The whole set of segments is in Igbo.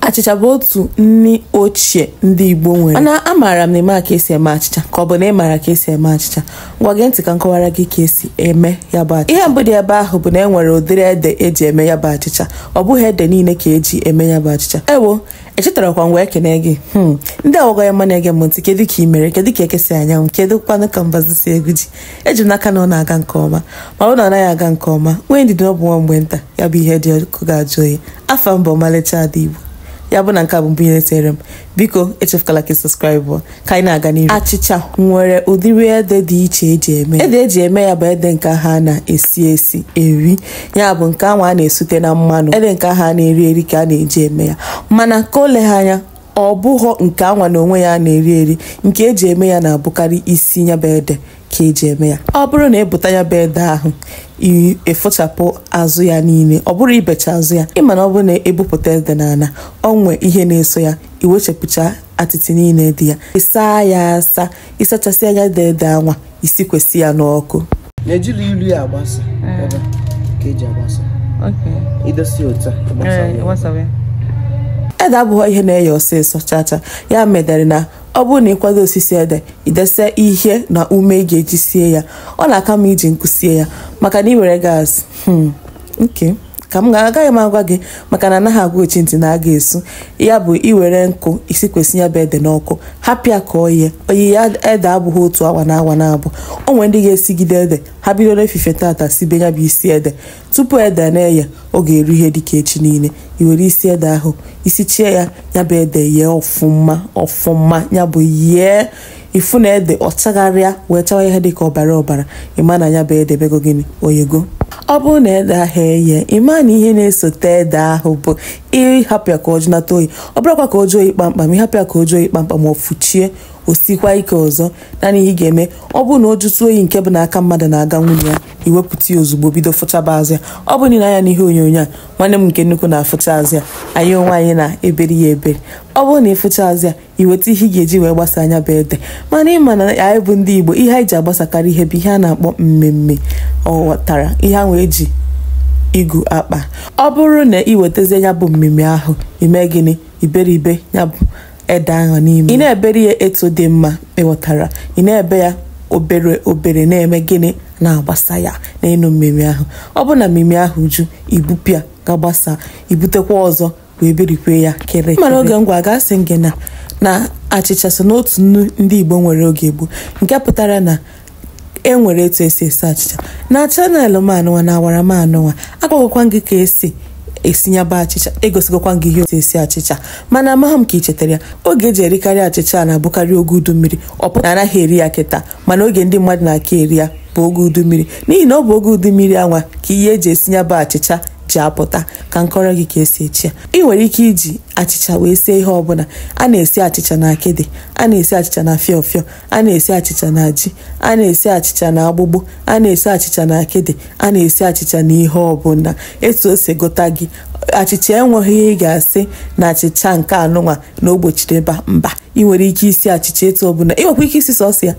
Achịcha bụ otu nni ochie ndị Igbo nwere. Mana amaara m na ịma ka esi eme achịcha ka ọ bụ na ị maara ka esi eme achịcha. Ngwa gee ntị ka m kọwara gị ka esi eme ya bụ achịcha. Ihe mbụ dị ebe ahụ bụ na e nwere ụdịrị ede eji eme ya bụ achịcha. Ọ bụghị ede niile ka eji eme ya bụ achịcha. Ewo, echetarakwa m wee kene gị. Hmm, ndị awụgọ ya mma na-ege m ntị kedu ka ị mere kedu ka eke si anya anwụ kedu kwanụ ka mbazụ si egwu ji eji m n'aka na ọ na-aga nke ọma ma ọ na anaghị aga nke ọma nwee ndidi ọ bụ nwa mgbe nta ya bụ ihe dị ọkụ ga-ajụ oyi afa m bụ Ọmalịcha Ada Igbo ya bụ na nke a bụ mbụ ihe tere m biko echefukwala ka ị subscribe ka anyị na-aga n'ihu achịcha nwere ụdịrị ede dị iche eji eme ede eji eme ya bụ ede nke ha na-esi esi eri ya bụ nke ahụ a na-esute na mmanụ ede nke ha na-eri eri ka a na-eji eme ya mana ka o legha anya ọ bụghọ nke anwa na onwe ya na-eri eri nke eji eme ya na-abụkarị isi nya bụ ede ka eji eme ya ọ bụrụ na ibuta nya bụ ede ahụ ịfụchapụ azụ ya niile ọ bụrụ ibecha azụ ya ịma na ọ bụrụ na ebupụta ede n'ala o nwe ihe na-eso ya iwechapụcha atịtị niile dị ya ịsaa ya asa ịsachasịa ya ede ede anwa isikwesị ya n'ọkụ na-ejiri ilu ya agbasa eh. ebe ka eji agbasa idosi otu a eh, ede abụghị ihe na-eye ọsịsọ chacha ya medere na ọ bụrụ na ịkwado osisi ede idese ihe na ume ị ga-eji sie ya ọ na-aka mma iji nkụ sie ya maka na ị were gas hmm, nke ka m agaghị m agwa gị maka na anaghị agwa ochi ntị na agha esu ya bụ iwere nkụ isikwasị ya bụ ede n'ọkụ hapụ ya ka o yee oyiye ede abụghị otu awa na awa naabọ o nwere ndị ga-esigide ede ha bido n'efifie tata sibe ya bụ isi ede tupu ede na-eye ọ ga-eru ihe dịka echi niile i were isi ede ahụ isi chie ya ya bụ ede yee ọfụma ọfụma ya bụ yee ị fụ na ede ahụ chagharịa wee chawa ihe dịka ọbara ọbara ịma na ya bụ ede mego gịnị o yego ọ bụrụ na ede ahụ eye ịma na ihe na-esote ede ahụ bụ ịhapụ ya ka ọ jụnata oyi ọ bụrụkwa ka o jụọ oyi kpamkpam ịhapụ ya ka o jụọ oyi kpamkpam ọfụcha ya o sikwa ike ọzọ naanị ihe ị ga-eme ọ bụrụ na o jụtụ oyi nke bụ na aka mmadụ na-aganwu na ya iwepụta ya ozugbo bido fụchaba azụ ya ọ bụ na i lee anya n'ihe onyonyo a nwanne m nke nnukwu na-afụcha azụ ya anyị onwe anyị na-eberi ya eberi ọ bụrụ na ịfụcha azụ ya iweta ihe ị ga-eji wee gbasaa nya bụ ede mana ịma na anyị bụ ndị Igbo ihe anyị ji agbasakarị ihe bụ ihe a na-akpọ mmimi ị ghọtara ihe ahụ eji igu akpa ọ bụrụ na ị wetazie ya bụ mmimi ahụ ime gịnị iberibe ya bụ ede ahụ n'ime ị na-eberi ya etu dị mma ịghọtara ị na-ebe ya obere obere na-eme gịnị na-agbasa ya n'elu mmimi ahụ ọ bụ na mmimi ahụ ju ibupụ ya gaa gbasaa ibutekwa ọzọ wee berikwe ya kere mana oge m gwagasị gị na na achịcha so n'otu nni ndị Igbo nwere oge gboo nke pụtara na e nwere etu esi esi achịcha na channel m anụnwa na ọwara m anụnwa agwagokwa gị ka esi esi ya bụ achịcha egosigokwa gị ihe otu esi achịcha mana amaghị m ka ị chetara ya oge eji erikarị achịcha na-abụkarị oge udu mmiri ọ pụta anaghị eri ya kịta mana oge ndị mmadụ na-aka eri ya bụ oge udu mmiri n'ihi na ọ bụ oge udu mmiri anwa ka ihe eji esi ya bụ achịcha ji apụta ka m kọọrọ gị ka esi esi ya ị nwere ike iji achịcha wee sie ihe ọbụla a na-esi achịcha na akịdị a na-esi achịcha na fịọ fịọ a na-esi achịcha na ji a na-esi achịcha na agbụgbụ a na-esi achịcha na akịdị a na-esi achịcha na ihe ọbụla etu o si gụta gị achịcha enweghị ihe ị ga-asị na achịcha nke anụnwa na o gbochiri ebe a mba ị nwere ike isi achịcha etu ọbụla ị nwekwa ike isi sọsọ ya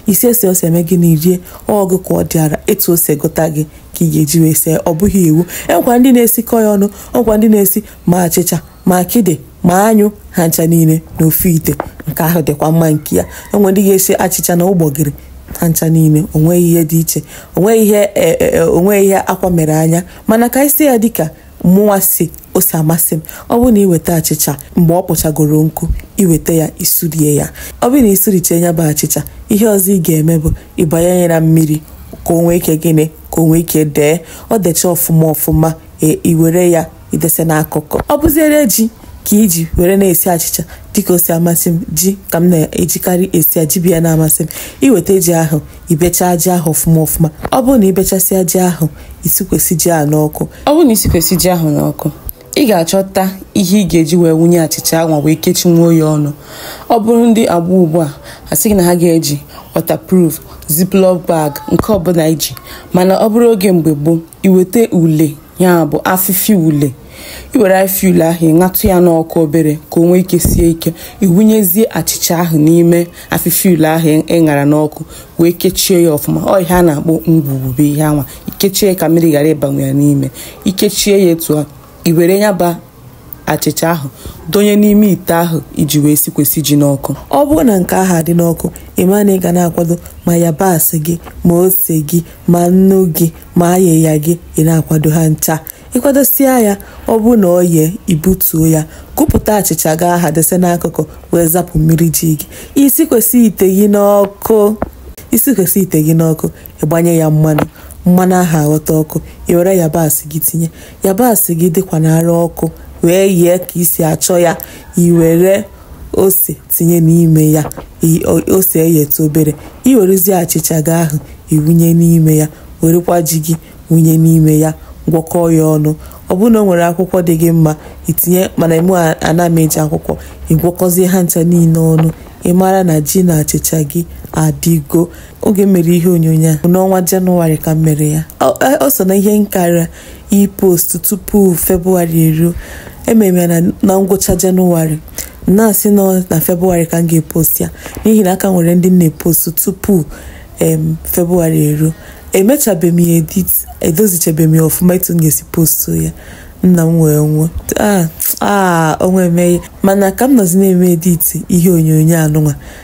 isi esi ọsọ imee gịnị irie ọ bụ ka ọ dịara etu o si gụta gị ka ị ga-eji wee sie ọ bụghị iwu enwekwa ndị na-esikọ ya ọnụ ọkwa ndị na-esi ma achịcha ma akịdị ma anyụ ha ncha niile n'ofu ite nke ahụ dịkwa mma nke ya enwe ndị ga-esi achịcha na ụgbọgịrị ha ncha niile onweghị ihe dị iche onweghị ihe e, e, e, onweghị ihe akwa mere anya mana ka isi ya dịka mụnwa si o si amasị m ọ bụrụ na iweta achịcha mgbe ọ kpọchagoro nkụ iweta ya isurie ya ọ bụrụ na isuriche ya bụ achịcha ihe ọzọ ị ga-eme bụ ịbanye ya na mmiri ka o nwee ike gịnị ka o nwee ike dee ọ decha ọfụma ọfụma e, iwere ya idese n'akụkụ ọ bụziere ji ka iji were na-esi achịcha dịka o si amasị m ji ka m na-ejikarị esi ya ji bụ ya na-amasị m iweta ji ahụ ibechaa ji ahụ ọfụma ọfụma ọ bụrụ na ibechasịa ji ahụ isikwesị ji ahụ n'ọkụ ọ bụrụ na isikwesị ji ahụ n'ọkụ ị ga-achọta ihe ị ga-eji wee wunye achịcha ahụ wee kechinwuo ya ọnụ ọ bụrụ ndị agba ugbu a asị na ha ga-eji waterproof ziploc bag nke ọbụla iji mana ọ bụrụ oge mgbe gboo iweta ule ya bụ afịfịa ule iwere afịfịa ule ahụ ịṅatụ ya n'ọkụ obere ka o nwee ike sie ike iwunyezie achịcha ahụ n'ime afịfịa ule ahụ ịṅara n'ọkụ wee kechie ya ọfụma ọ ihe a na-akpọ ngwugwu bụ ihe anwa ikechie ya ka mmiri ghara ịbanwu ya n'ime ikechie ya etu a iwere ya bụ achịcha ahụ donye n'ime ite ahụ iji wee sikwesị ji n'ọkụ ọ bụrụ na nke ahụ adị n'ọkụ ịma na ị ga na-akwado ma yabasị gị ma ose gị ma nnu gị ma ayịya gị ị na-akwado ha ncha ịkwadosia ya ọ bụrụ na ọ yee ibutuo ya kụpụta achịcha gị aha dese n'akụkụ wee zapụ mmiri ji gị isikwesị ite gị n'ọkụ isikwesị ite gị n'ọkụ ịgbanye ya mmanụ mmanụ ahụ aghọta ọkụ i were yabasị gị tinye yabasị gị dịkwa n'ara ọkụ wee yee ka isi achọ ya i were ose tinye n'ime ya ose eyeta obere i werezie achịcha gị ahụ iwunye n'ime ya werekwa ji gị wunye n'ime ya gwọkọọ ya ọnụ ọ bụrụ na o nwere akwụkwọ dị gị mma itinye mana mụ ana m eji akwụkwọ ịgwọkọzie ha ncha niile ọnụ ị mara na ji na achịcha gị adịgo oge m mere ihe onyonyo a n'ọnwa jenụwarị ka m mere ya ọ so na ihe m kara ipost tupu febụwarị eruo emere ya na ngwụcha jenụwarị na-asị na ọ na febụwarị ka m ga-epost ya n'ihi na a ka nwere ndị m na-epost tupu febụwarị eruo emechabeghị m ya edit edozichabeghị m ya ọfụma etu m ga-esi postu ya nna m wee nwụọ aa ah, ah, onwe emeghe mana ka m nọzi na-eme editi ihe onyonyo anụnwa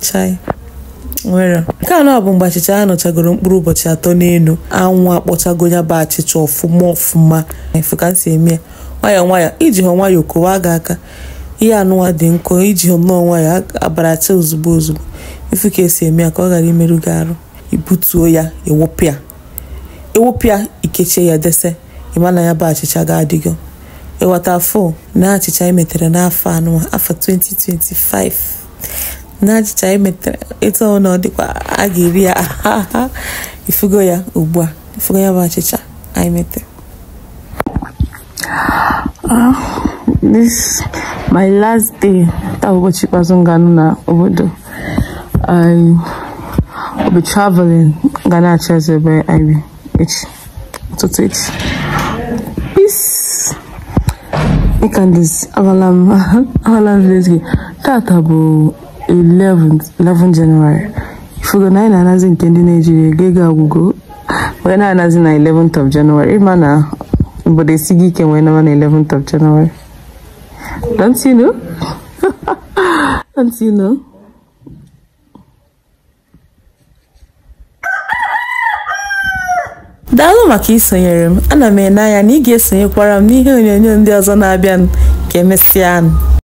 chai nwere nke anọ bụ mgbe achịcha ya nọchagoro mkpụrụ ụbọchị atọ n'elu anwụ akpọchago ya bụ achịcha ọfụma ọfụma ifu ka m si eme ya nwayọọ nwayọọ ijihụ nwayọọ kowa gị aka ihe anụnwa dị nkọ ijihụ nnọọ nwayọọ abaracha ozugbo ozugbo ifu ka esi eme ya ka ọ ghara imerụ gị arụ ibutuo ya ewopịa ewopịa ikechie ya dese ịma na ya bụ achịcha ga-adịgo ịghọta afọ na achịcha emetere n'afọ anụnwa afọ 2025 na achịcha anyị metere etu ọ na ọ dịkwa a ga-eri ya ifugo ya ugbu a ifugo ya bụ achịcha anyị metere ah, this my last day taa bụ ụbọchị ikpeazụ m ga-anọ na obodo I will be traveling ga na-achọ ebe anyị echi ụtụtụ echi peace ịkandis aghala m aghala m village gị tata bụ 11 11 January ifugo na anyị na-anazi nke ndị Naijiria ego ego agwụgo wee na-anazi na 11th of January ịma na obodo esigo ike wee naba na 11th of January don't you know don't you know daalụ maka isonyere m ana m ene anya na ị ga-esonyekwara m n'ihe onyonyo ndị ọzọ na-abịanụ ka emesịa